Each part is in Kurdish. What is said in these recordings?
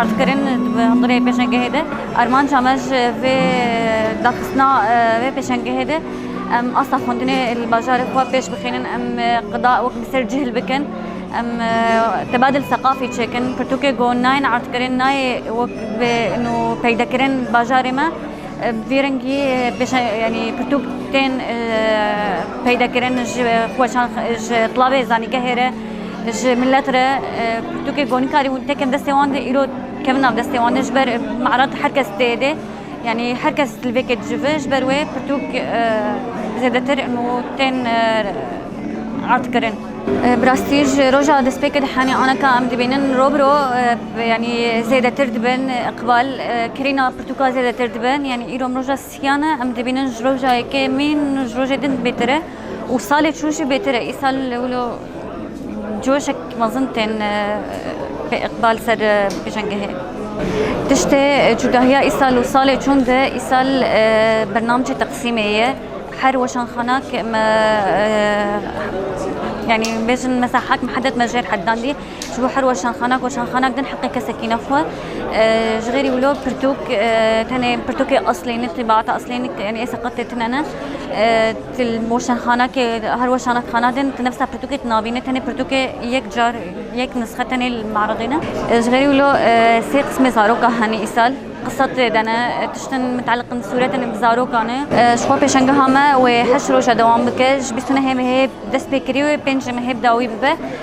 Ardkirin di hundirê pêşengehê de armanca me ji vê daxistina vê pêşengehê de em asta xwendinê li bajarê xwe pêş bixînin, em qida wek bi ser cihil bikin, em tebadil seqafî çêkin. Pirtûkê ku nayên ardkirin nayê wek vê nû peydekirin li bajarê me bi vî rengî yanî pirtûk tên peydekirin ji xweşan ji qilavê zanîngehê re. Ji milet re pirtûkê gonî karî hûn tekin destê wan de îro kevin nav destê wan de ji ber me'rat her kes tê de yanî her kes li vê ke dicivi ji ber wê pirtûk zêdetir û tên ard kirin. Bi rastî ji roja destpêkê de henê aneka em dibînin ro bi ro yanî zêdetir dibin iqbal kirîna pirtûka zêdetir dibin yanî îro mirov ji Tiyan e, em dibînin ji roja yekê mîn û ji rojê din bêtir e û salê çûn jî bêtir e. Îsal wilo coşek mezin tên bi îqbal ser pêşengehê. Tiştê cudahiya îsal û salê çûn de îsal bernamcê teqsîmê ye. Her weşanxanak me yanî bêjin mesela hak mihedet me jêr heddandî. Ji bo her weşanxanak weşanxanak din heqê kesekî ne xwe. Ji xêrî wilo pirtûk tenê pirtûkê eslê ne tîbaata eslê ne yani ê seqetê tine ne. Til weşanxanakê her weşanxana din ti nefsa pirtûkê ti nabîne tenê pirtûkê yek car yek nisxe tenê li meredê ne. Ji xêrî wilo sê qismê zaroka hene îsal. Qisa tê de ne tiştin muteleqin sûretin bi zarokan e. Ji xwe pêşangeha me wê heşt roja dewam bike ji bîst û nehê mehê dest pê kirî wê pênc mehê bi dawî bibe.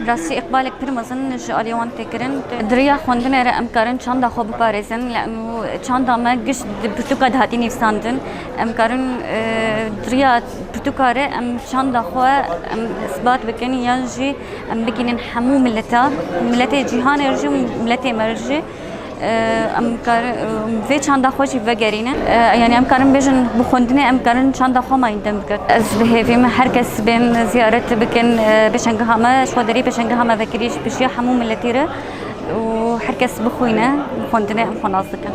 Bi rastî îqbalek pir mezin ji aliyê wan tê kirin. Di riya xwendinê re em karin çanda xwe biparêzin lê em çanda me gişt di pirtûka dihatî nivîsandin. Em karin di riya pirtûka re em çanda xwe em îsbat bikin yan jî em bigihînin hemû mileta, miletê cîhanê re jî û miletê me re jî. Em karin vê çanda xwe jî vegerînin. Yanî em karin bêjin bi xwendinê em karin çanda xwe mayîn dem bikin. Ez dihêvîm her kes bên ziyaret bikin pêşengeha me. Ji xwe derî pêşengeha me vekirî ji pişiya hemû miletî re û her kes bixwîne bi xwendinê em xwe nas dikin.